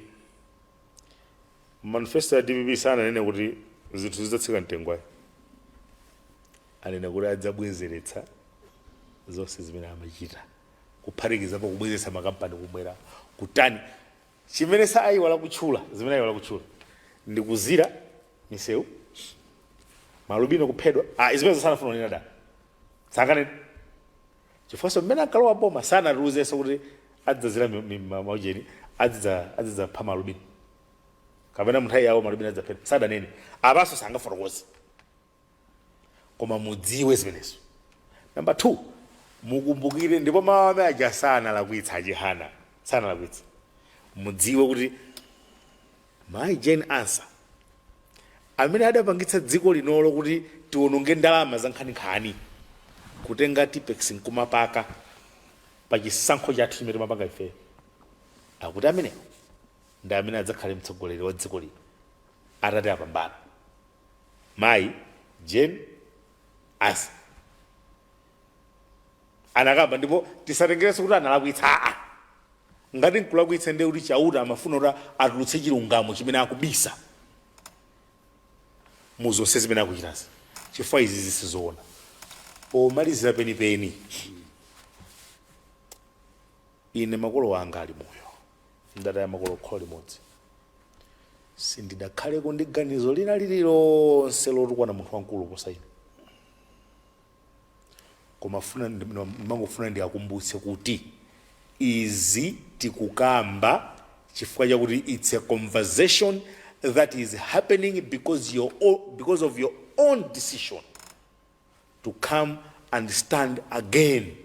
manifesto ya dpp sananene kuti zinthu zidzatsika mtengo ayi anena kuti adzabwezeretsa zonse zimene amachita kuphatikizapo kubwezeretsa makampani kubwera kutani Chimene saaiwala kutchula, zimene aiwala kutchula ndi kuzira misewu, malubino kuphedwa. Ah, zimenezo sanafuna kunena da, sanganene chifukwanso mmene ankalowa boma sanatiuzenso kuti adzazira maujeni adzidzapha malubino kapena munthawi yawo malubino adzaphedwa sadanene apanso sangafotokoze koma mudziwe zimenezo namba 2 mukumbukire ndipo mawu amene aja sanalakwitsa a chihana sanalakwitsa mudziwe kuti mayi jane ansa amene adapangitsa dziko linolo kuti tiwononge ndalama zankhaninkhani kutenga tipex nkumapaka pa chisankho chathu chimene timapanga ifeyo akuti amenewo ndi amene adzakhale mtsogoleri wa dziko lino atati apambana Mayi Jane Ansah anakamba ndipo tisatengerenso kuti analakwitsa aa ngati nkulakwitsa ndiye kuti chauta amafuna kuti atulutse chilungamo chimene akubisa mu zonse zimene akuchitazi chifukwa izi zisizoona pomalizira penipeni ine makolo anga ali moyo ndataya makolo kholo limodzi sindidakhaleko ndi ganizo lina lililonse lotukwana munthu wamkulu kuposa ine koma funa ndimangofuna ndiakumbutse kuti izi tikukamba chifukwa chakuti it's a conversation that is happening because of your own decision to come and stand again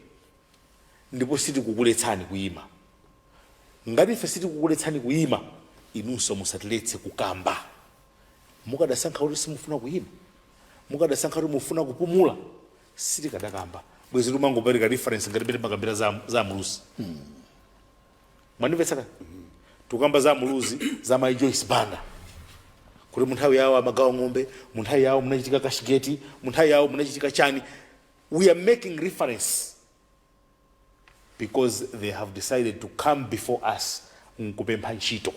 ndipo sitikukuletsani kuima ngati ife sitikukuletsani kuima inunso musatiletse kukamba mukadasankha kuti simufuna kuima mukadasankha kuti mufuna kupumula sitikadakamba bwezi tikumangopereka reference ngati mmene timakambira za muluzi mwandimvetsa tikukamba za muluzi za mai joyce banda kuti munthawi yawo amagawa ng'ombe munthawi yawo munachitika kashigeti munthawi yawo munachitika chani we are making reference because they have decided to come before us nkupempha ntchito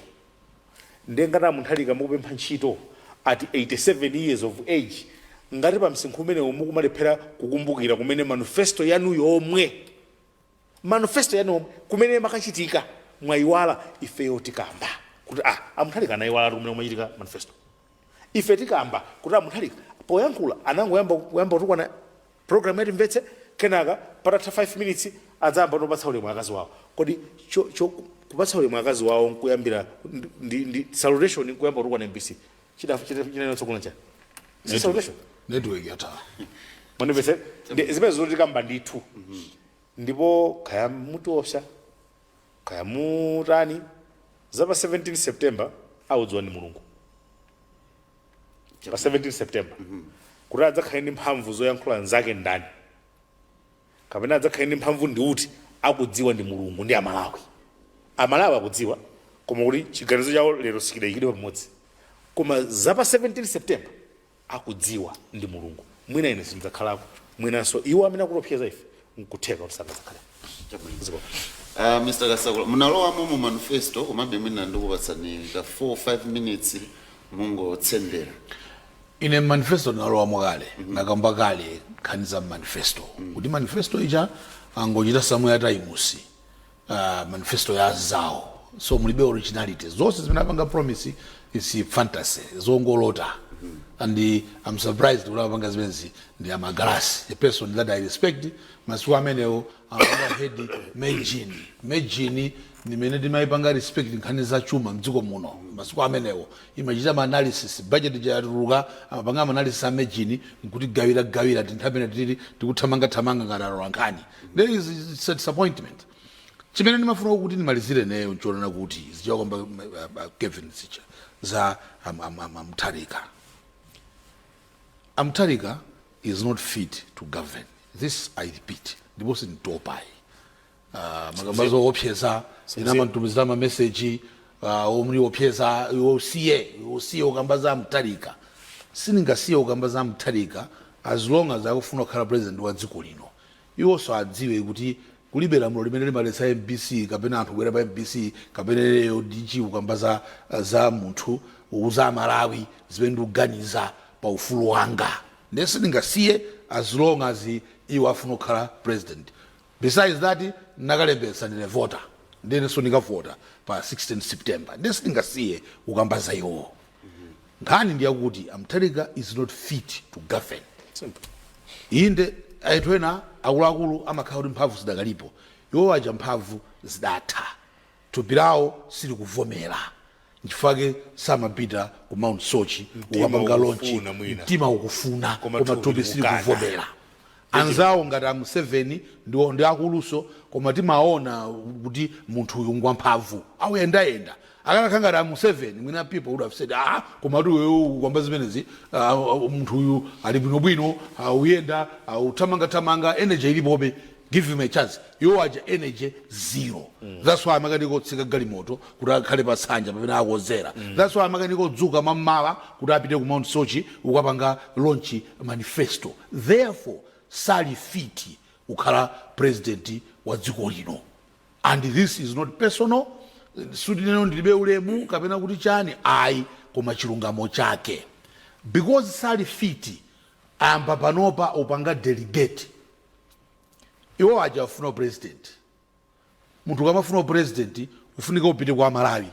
nde ngati a mutharika mukupempha ntchito at 87 years of age ngati pa msinkhu umenewo mukumalephera kukumbukira kumene manifesto yanu yomwe manifesto yanu yomwe kumene makachitika mwayiwala ifeyo tikamba kuti ah a Mutharika anayiwala kumene kumachitika manifesto ife tikamba kuti a Mutharika poyankhula anangoyamba kuyamba kutukwana program ya Timvetse kenaka patatha 5 minutes adzayambano kupatsa ulemu akazi wawo kodi cho, cho, kupatsa ulemu akazi wawo nkuyambira ndi, ndi salutation nkuyamba kutukwana mbc Chida chida chida na sokona cha. Sisi salutation. Network yatha. Manifesto ndi zimenezo tikamba ndithu. Ndipo kaya mutiopsa. Kaya mutani. Zapa 17 September akudziwa ni Mulungu. Pa 17 September. Kuti adzakhala ndi mphamvu zoyankhula nzake ndani. kapena adzakhale ndi mphamvu ndi uti akudziwa ndi mulungu ndi amalawi amalawi akudziwa koma kuti chiganizo chawo lero sichidayikidwe pamodzi koma za pa 17 september akudziwa ndi mulungu mwina ine sindidzakhalako mwinanso iwo amene akutopseza ife nkutheka kuti sangadzakhaleko. Uh, Mr. Kasakula, munalowamo mu manifesto komabe mwina ndikupatsani ka 4-5 minutes mungotsendera. Ine m'manifesto ndinalowamo kale, ndakamba kale nkhani za m'manifesto kuti manifesto ija angochita summarize uh, manifesto ya anzawo so mulibe originality zonse zimene apanga promise is fantasy zongolota and i'm surprised kuti amapanga zimenezi ndi a Magalasi a person that i respect masiku amenewo amapanga head MEJN MEJN ndimene timayipanga respect nkhani za chuma mdziko muno masiku amenewo imachita ma analysis, budget ija yatuluka, amapanga ma analysis a MEJN nkutigawira gawira tinthu pamene tili tikuthamanga thamanga ngati atolankhani. There is it's a disappointment. Chimene ndimafuna kuti ndimalizire ineyo nchonena kuti zichita kwamba uh, uh, Kevin zicha za am- am- am- a Mutharika. A Mutharika is not fit to govern. This I repeat. Ndipo sinditopayi. Ah, amakamba zoopseza ena amantumizira mameseji ah, ondiopseza iwe usiye iwe usiye ukamba za Mutharika sindingasiye ukamba za Mutharika as long as akufuna kukhala president wa dziko lino iwonso adziwe kuti kulibe lamulo limene limaletsa mbc kapena anthu kubwera pa mbc kapena lero dg ukamba za, za munthu uza amalawi zimene ndikuganiza pa ufulu wanga ndiye sindingasiye as long as iwo afuna kukhala president Besides that ndinakalembetsa ndine voter ndiye inenso ndikavota pa 16 September ndiye sindingasiye kukamba za iwowo. Nkhani ndi yakuti a Mutharika is not fit to govern. Simple. Inde anthu ena akuluakulu amakhala kuti mphamvu zidakalipo, iwo aja mphamvu zidatha, thupi lawo silikuvomera. nchifukwa chake samapita ku mount sochi kukapanga lonchi mtima ukufuna koma thupi silikuvomera anzawo ngati a Museveni ndi, ndi akulunso koma timaona kuti munthu uyu ngwamphamvu auyendayenda akanakhala ngati a Museveni mwina people would have said ah koma kuti uyu ukukamba zimenezi ah, munthu uyu ali bwinobwino auyenda authamangathamanga energy ilipobe give him a chance Iwo aja energy zero that's why amakanika kutsika galimoto kuti akhale pa tsanja pamene akonzera that's why amakanika kudzuka mam'mawa kuti apite ku mount sochi ukapanga launch manifesto therefore sali fiti kukhala president wa dziko lino and this is not personal sikuti ineno ndilibe ulemu kapena kuti chani ayi koma chilungamo chake because sali fiti ayamba panopa upanga delegate Iwo aja afuna u president. Munthu ukamafuna u president ufunika upite kwa a Malawi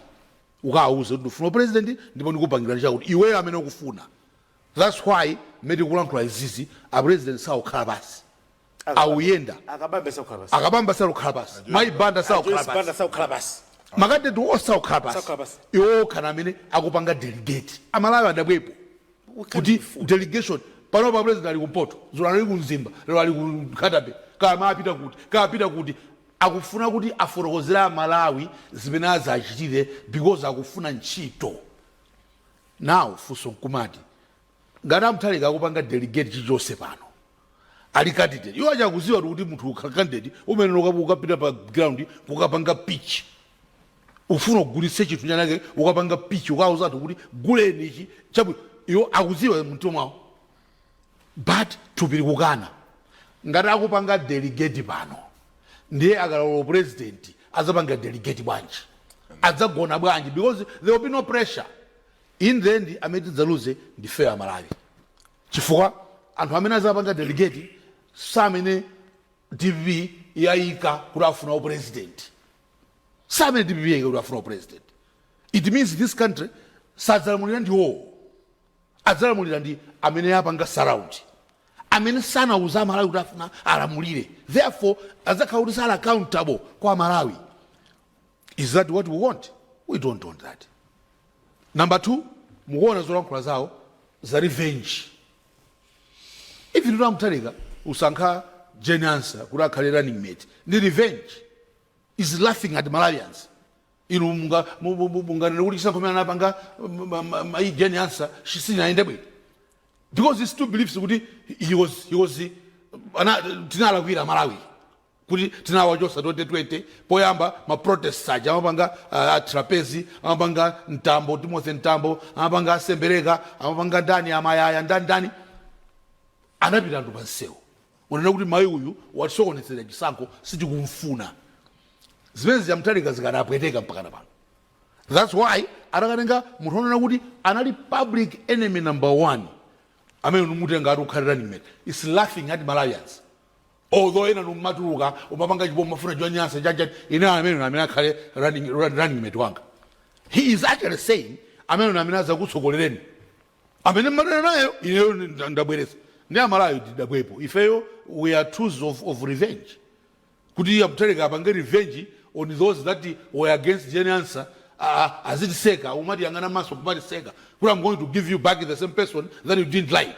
ukawauze kuti ndufuna u president ndipo ndikupangilani chakuti iweyo amene ukufuna. That's why mmene tikulankhula izizi a president sakukhala pansi. Akuyenda. A Kabambe sakukhala pansi. Mayi Banda sakukhala pansi. Makandideti onse sakukhala pansi. Iwo okha ndi amene akupanga delegate. A Malawi adabwepo. kuti delegation panopa president ali kumpoto dzulo anali ku Mzimba lero ali ku Nkhata Bay kaya mawa apita kuti kaya apita kuti akufuna kuti afotokozere amalawi zimene azachitire because akufuna ntchito now funso nkumati ngati a Mutharika akupanga delegate chilichonse pano ali candidate iwo aja akuziwa kuti munthu ukhala candidate uyenera uka- ukapita pa ground kukapanga pitch ufuna ugulitse chinthu chanake ukapanga pitch ukauza anthu kuti guleni ichi chabwino iwo akuziwa mumtima mwawo but thupi likukana ngati akupanga delegate pano ndiye akalowa president adzapanga delegate bwanji adzagona bwanji because there will be no pressure in the end amene tidzaluze ndife a Malawi Chifukwa anthu amene azapanga delegate samene dpp yaika kuti afuna upresident. Samene dpp yaika kuti afuna upresident. It means this country sadzalamulira ndi iwowo. Adzalamulira ndi amene awapanga surround. Amene sanauze a Malawi kuti afuna alamulire. Therefore adzakhala kuti sali accountable kwa a Malawi. Is that what we want? We don't want that. Number two, mukuona zolankhula zawo za revenge. Even a Mutharika usankha Jane Ansah kuti akhale running mate ndi revenge is laughing at Malawians. Inu munga mu- mu- mu- munganene kuti chisankho chimene anapanga ma- ma- ma- mayi Jane Ansah sichinayende bwino. Because he still believes kuti he was he was ana tinamulakwira a Malawi. kuti tinawachosa 2020 poyamba ma protests aja amapanga a Trapence amapanga Mtambo Timothy Mtambo amapanga a Sembereka amapanga ndani a Mayaya ndani ndani anapita anthu pa msewu kunena kuti mayi uyu watisokonezera chisankho sitikumfuna zimenezi za Mutharika zikanapweteka mpakana pano thats why atakatenga munthu onena kuti anali public enemy number one amene kumutenga ati akhale running mate he's laughing at malawians Although enanu mmatuluka mmapanga chipongwe simmafuna Jane Ansah chanichani ine ameneyo amene akhale running, run- running mate wanga he is actually saying ameneyo amene azakutsogolereni amene mmadana naye ineyo nda- ndabweresa ndiye aMalawi tidabwepo ifeyo we are tools of, of revenge kuti iye a Mutharika apange revenge on those that were against Jane Ansah uh, azitiseka kumatiyang'ana m'maso kumatiseka kuti I'm going to give you back the same person that you didn't like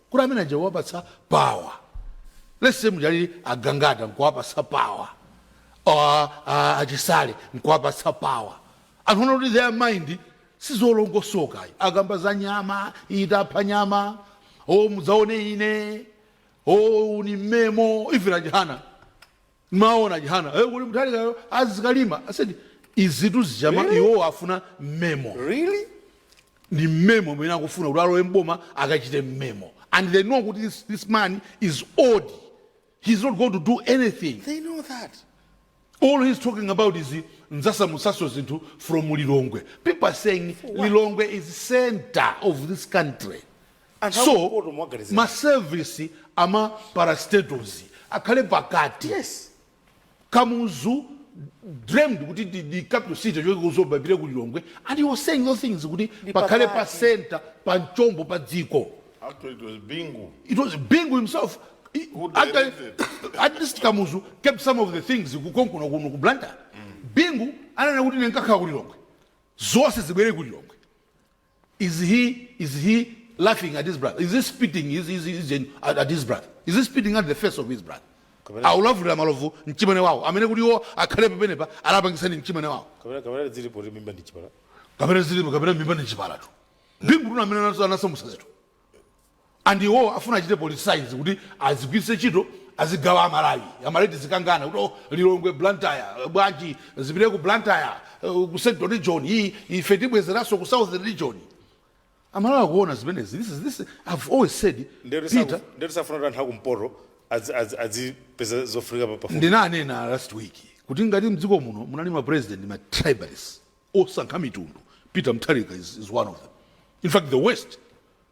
Kuti amene aja kuwapatsa power let's say muja alili a Gangata nkuwapatsa power or uh, a Chisale nkuwapatsa power anthu onena kuti their mind sizolongosoka ayi. akamba za nyama itapha nyama o mudzaone ine o uni mmemo ife a Chihana Mwaona Chihana eh kuti Mutharika yo azikalamba I said izitu zichama Really? iwowo afuna mmemo Really? ndi mmemo amene akufuna kuti alowe mboma akachite mmemo and they know kuti this, this man is old he's not going to do anything They know that. all he's talking about is ndzasamutsanso zinthu from lilongwe people are saying lilongwe is center of this country And so akumpoto muwaganizira. ma service ama parastatals akhale pakati Yes. kamuzu dreamed kuti the, the capital city ichoke ku Zomba ipite ku lilongwe and he was saying those things kuti Ndi pakhale pa pakati. center pa mchombo pa dziko Actually, it was Bingu. it was bingu himself He- Who actually, directed? at least kamuzu kept some of the things konkuno kuno ku blantyre bingu ananena kuti ine nkakhala ku lilongwe zonse zibwere ku lilongwe is he is he laughing at his brother is he spitting his, his, his, his, at his brother is he spitting at the face of his brother Kapena- akulavulira malovu mchimwene wawo amene kuti iwo akhale pamene pali anapangitsa ndi mchimwene wawo kapena kapena zilipo ti mimba ndi chipala kapena zilipo kapena mimba ni chipalatu Bingutu ndi amene anaso- anasamusa zinthu and iwowo afuna achite politics kuti azigwiritse ntchito azigawa a Malawi. A Malawi tizikangana kuti oh Lilongwe, Blantyre, bwanji zipite ku Blantyre, uh, ku Central Region, i, ife tibwezeranso ku Southern Region. A Malawi akuona zimenezi. This is, this, I've always said, Ndetu saku- Peter, ndetu safuna kuti anthu akumpoto adzi- adzi- adzipeza zofunika pa- pafupi. ndinanena last week kuti ngati mdziko muno munali ma president ma tribalists osankha mitundu peter mutharika is, is one of them in fact the worst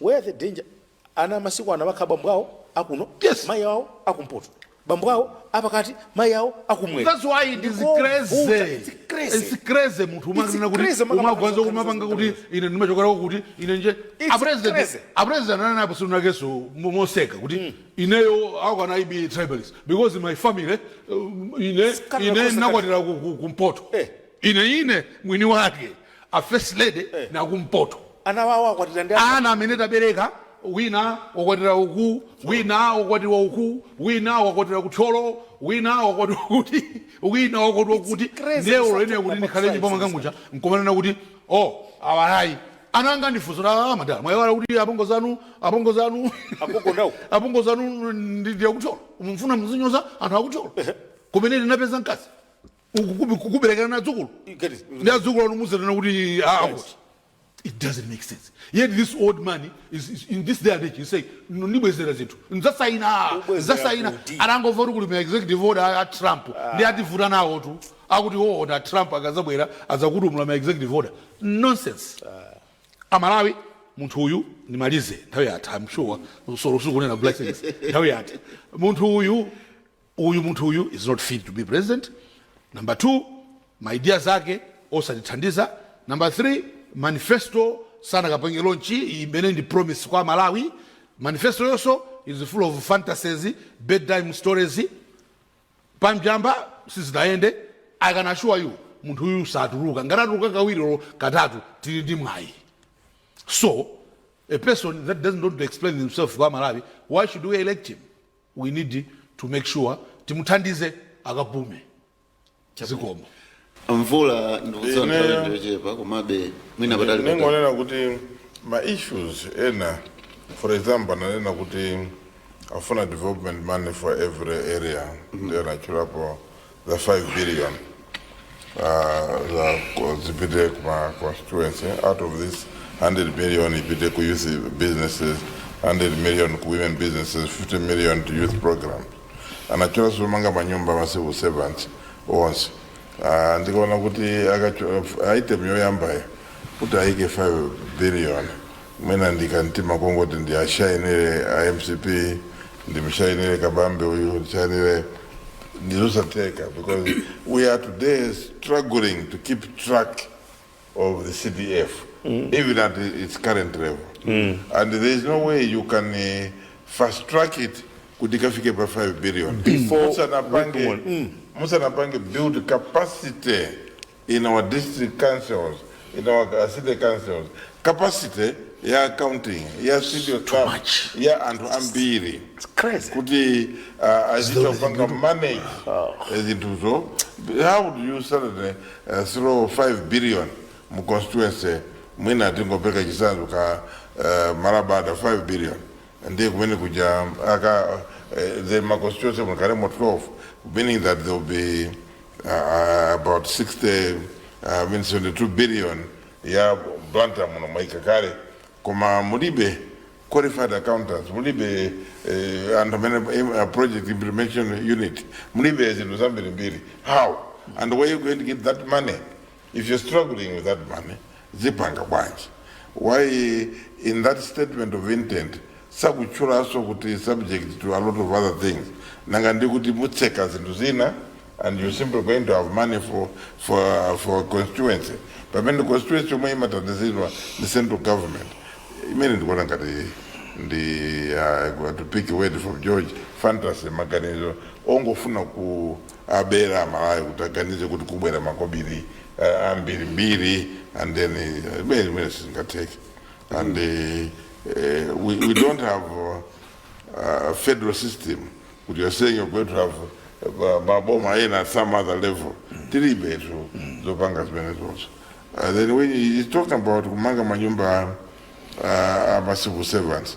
Where the danger ana a masiku ano amakhala bambo awo akuno Yes. mayi awo akumpoto bambo awo apakati mayi awo akumwera That's why it is Ndiko crazy. vuta, it's crazy. It's crazy munthu It's umakanena kuti crazy, maka- umagwanza maka- kumapanga maka- kuti ine ndimachokera kuti ine nje It's a president crazy. a president ananenapo tsiku linanso moseka kuti ineyo I cannot be tribalist because my family uh, ine Sikana ine kosa nakwatira ku- ku- kumpoto Eh. ine ine mwini wake a first lady eh. ndi akumpoto ana awo akwatira ndi ana amene tabereka wina wakwatira uku wina wakwatira uku wina wakwatira kuthyolo wina wakwatira kuti wina wakwatira kuti ndiye unene kuti ndikhale nyumba mwanga muja nkumanena kuti o oh, awa ayi ana anga andifunsa ah, madala mwaiwala kuti apongo zanu apongo zanu apongo zanu ndi akuthyolo mfuna muzinyoza anthu akuthyolo kumene ndinapeza mkazi Ukukubi- kukuberekerani adzukulu You get it? ndi adzukulu anu muzanena kuti ah, Right. kuti. it doesn't make sense yet this old man is, is in this day and age you say "No, ndibwezera zinthu ndzasaina Ubwezera ndzasaina kuti? anangomva kuti kuli ma executive order a- a trump ndiye ativuta nawotu akuti olo a trump akazabwera azagwetsa ma executive order nonsense amalawi munthu uyu ndimalize nthawi yatha i'm sure zolo ukunena blessings nthawi yatha munthu uyu Uyu munthu uyu is not fit to be president number 2 ma ideas ake osatithandiza number 3 manifesto sanakapange launch imene ndi promise kwa amalawi manifesto yonso is full of fantasies bedtime stories pamjamba sizinayende i can assure you munthu uyu satuluka ngati atuluka kawiri olo katatu tili ndi mwayi so a person that doesn't want to explain himself kwa amalawi why should we elect him we need to make sure timuthandize akapume zikomo a mvula ndikudziwa nthawi Ineyo. ndiyochepa komabe mwina patali patali ningonena kuti ma issues ena for example ananena kuti afuna development money for every area ndi anatchulapo za 5 billion uh, za ku- zipite kuma constituency out of this 100 million ipite ku youth businesses 100 million ku women businesses 50 million to youth program anatchula zomanga manyumba ma civil servants onse uh, ndikaona kuti ka- item yoyambayo kuti aike 5 billion mwina ndikantima kongoti ndiwashainire a mcp ndimshainire kabambe uyu ndishainire ndizosatheka because we are today struggling to keep track of the cdf even at its current level and there is no way you can uh, fast track it kuti ikafike pa 5 billion Before musanapange we go on. musanapange build capacity in our district councils, in our uh, city councils, capacity ya accounting ya staff ya anthu ambiri kuti uh, azikapanga manage eh, zinthuzo how do you suddenly uh, throw 5 billion mu constituency mwina tingopereka chitsanzo ka uh, malabada 5 billion ndiye kumene kuja uh, ma constituency akhalemo 12 meaning that there will be uh, about 60 uh, I mean 72 billion ya Blantyre muno mwaika kale koma mulibe qualified accountants mulibe eh, anthu amene eh, project implementation unit mulibe zinthu zambirimbiri how and where are you going to get that money If you're struggling with that money, zipanga bwanji? Why in that statement of intent sakutchulanso kuti subject to a lot of other things. Nanga ndi kuti mutseka zinthu zina and you're simply going to have money for for for constituency. Pamene constituency yomwe imathandiziridwa ndi central government. Imene ndikuona ngati ndi uh, to pick a word from George fantasy maganizo ongofuna ku abera amalawi kuti aganize kuti kubwera makobili uh, ambiri mbiri and then uh, imene imene sizingatheke and uh, uh, we, we don't have uh, a federal system kuti you're saying you're going to have uh, maboma ena at some other level tilibetu zopanga zimenezozo uh, then when you- you're talking about kumanga manyumba uh, ama civil servants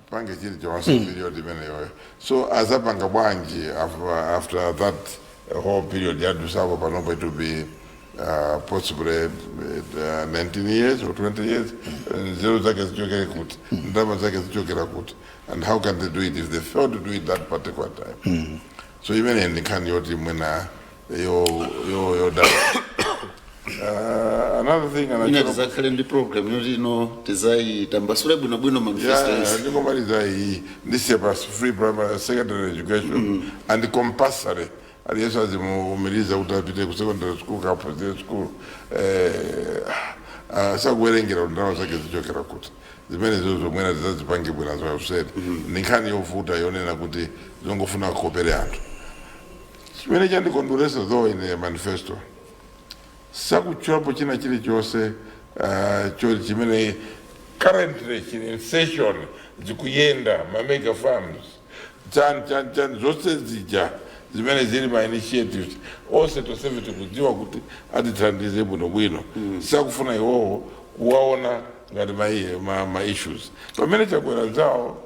pange chilichonse mm. period imeneyoyo so adzapanga bwanji after that whole period yadutsapo panopo it will be uh, possibly uh, 19 years or 20 years nzeru zake zichokera kuti ndalama zake zichokera kuti and how can they do it if they failed to do it that particular time so imene ndi nkhani yoti mwina yo yo yo da uh, another thing ina ndiye tidzakhale ndi program yoti ino tidzayitambasule bwinobwino manifesto yeah, yonse ndikomaliza iyi ndi ya free primary secondary education and compulsory aliyense azimuumiriza kuti apite ku secondary school kapena primary school eh, ah, sakuwerengera kuti ndalama zake zichokera kuti zimenezozo zomwe mwina tidzazipange bwana za useni ndi nkhani yovuta yonena kuti zongofuna kukopera anthu chimene chandikondweretsa though ine manifesto sakutchulapo china chilichonse ah, choti chimene currently chili in session zikuyenda ma mega farms chani chani chani zonse zija zimene zili ma initiatives onse tonsefe tikudziwa kuti azitithandize bwinobwino sakufuna iwowo kuwaona ngati ma, ma, ma issues pamene chakwera zawo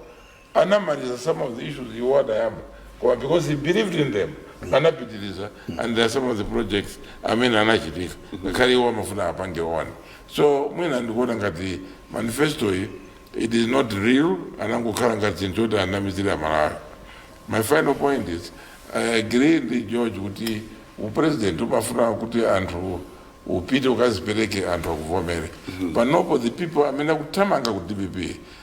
anamaliza some of the issues iwo adayamba koma because he believed in them anapitiliza and there are some of the projects amene anachitika ngakhale iwo amafuna apange one so mwina ndikuona ngati manifesto yi it is not real anangokhala ngati chinthu choti anamizira aMalawi my final point is i agree ndi george kuti upresident umafuna kuti anthu upite ukadzipereke anthu akuvomere panopo the people amene akuthamanga ku dpp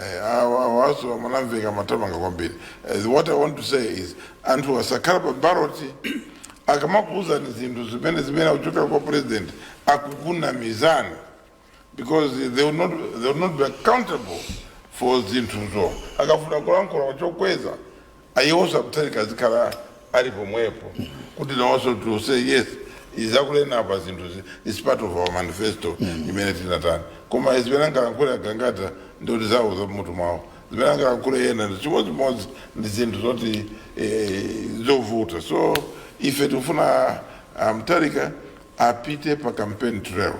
Eh, awa awanso amanamveka amathamanga kwambiri Eh, what i want to say is anthu asakhala pa ballot akamakuuzani zinthu zimene zimene zikuchokera kwa president akukunamizani because they will not, they will not be accountable for zinthuzo akafuna kulankhula mwachokweza Ayi iwonso a Mutharika azikhala ali pomwepo kuti nawonso to say yes izi akunena apa zinthuzi is part of our manifesto imene tinatani koma zimene angalankhule a Gangata ndikuti zawo zamutu mwawo zimene angalankhule yena ndi chimodzimodzi ndi zinthu zoti eh, zovuta so ife tikufuna a Mutharika apite pa campaign trail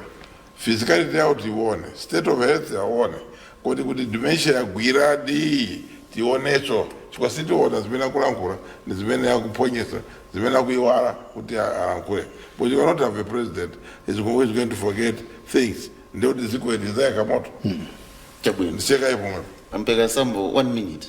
Physicality yawo tiyione, state of health yawoyo, kodi kuti dementia yagwiradi tionenso chifukwa tiziona zimene akulankhula ndi zimene akuphonyetsa zimene akuiwala kuti a- alankhule but you cannot have a president who's going, who's going to forget things ndiye kuti dziko ili lidzayaka moto chabwino ndisiye kaye pomwepo a Mbeka Sambo one minute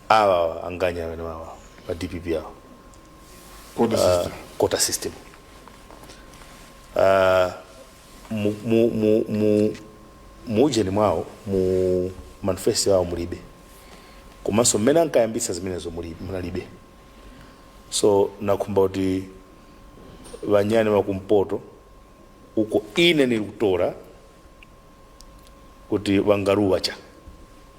awa awa wanganya wenewawa wa dpp awa Kodi Ah, sister. quota system Ah, mu- mu- mu- mu- mu ujeni mwawo mu manifesto yawo mulibe komanso mmene ankayambitsa zimenezo muli- munalibe so nakhumba kuti wanyane wakumpoto uko ine nilikutora kuti wangaruwa cha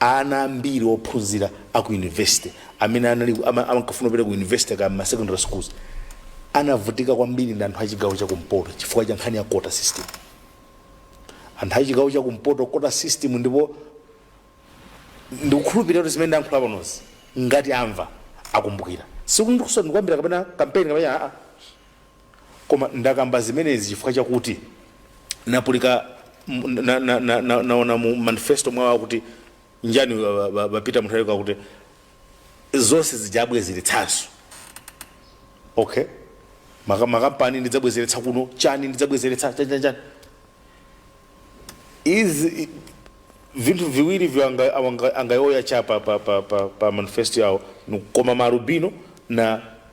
Ana ambiri ophunzira a ku yunivesite amene anali ama- ankafuna kupita ku yunivesite kaya m'ma secondary schools anavutika kwambiri ndi anthu a chigawo cha kumpoto chifukwa cha nkhani ya quota system. Anthu a chigawo cha kumpoto quota system ndipo ndikukhulupirira kuti zimene ndayankhula panozi ngati amva akumbukira. Sikuti ndikusowa ndikuyambira kapena kampeni kapena aa. Koma ndakamba zimenezi chifukwa chakuti napulika na, na, na, na, naona mu manifesto mwawo akuti chani ba, ba, ba, ba Peter Mutharika akuti zonse ndidzabwezeretsanso okay Maka- makampani ndidzabwezeretsa kuno chani ndidzabwezeretsa chani chani chani izi i- vinthu viwiri ivyo anga- awanga- angayoya cha pa, pa, pa, pa, pa manifesto yawo ni koma Malubino na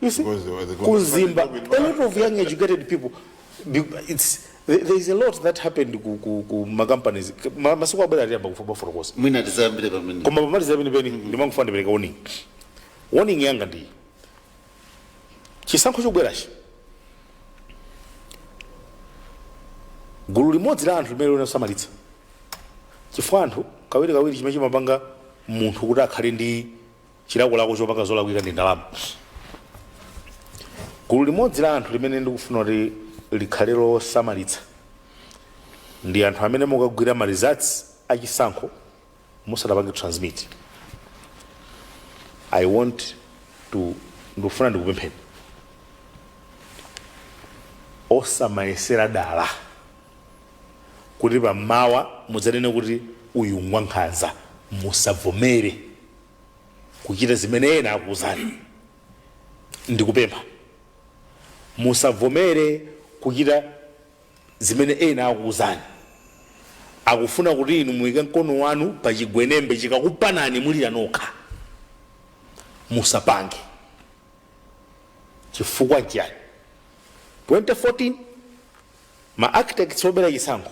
You see, Because they were the ku Mzimba, conversation with a lot of young educated people. be- It's there there is a lot that happened ku ku ku ma companies. Ma- Masiku akubwera atiyamba kufa baforo kosi. mwina tizayambire pamene Koma pamaliza pene pene ndimangofuna ndipereka warning. Warning yanga ndi chisankho chobwerachi. Gulu limodzi la anthu limene lidzasamalitse. Chifukwa anthu kawiri kawiri chimene chimapanga munthu kuti akhale ndi chilakolako chopanga zolakwika ndi ndalama gulu limodzi la anthu limene ndikufuna kuti likhale losamalitsa ndi anthu amene mukagwira ma results a chisankho musanapange transmit i want to ndikufuna ndikupempheni osamayesera dala kuti pa mmawa mudzanene kuti, Uyu ngwankhanza. Musavomere kuchita zimene ena akuuzani. Ndikupempha, musavomere kuchita zimene ena akuuzani. Akufuna kuti inu muike mkono wanu pa chigwenembe chikakupanani mulira nokha. Musapange. Chifukwa nchiyani? 2014. Ma architects obera chisankho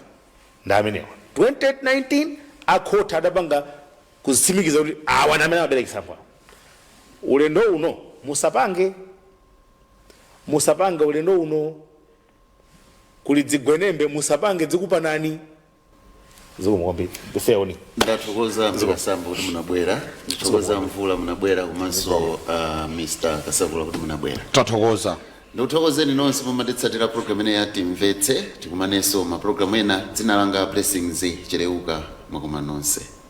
ndi amenewa. 2019 akhothi adapanga kuzitsimikiza kuti awa ndi amene amabera chisankho awa. Ulendo uno musapange musapange ulendo uno kuli dzigwenembe musapange dzikupanani. zikomo kwambiri ifeo ndathokoza mkasambo kuti munabwera ndithokoza mvula munabwera komanso uh, mr kasakula kuti munabwera tathokoza ndikuthokozeni nonse mumatitsatira programu ino ya timvetse tikumanenso mapulogalamu ena dzina langa blessings cheleuka mwakoma nonse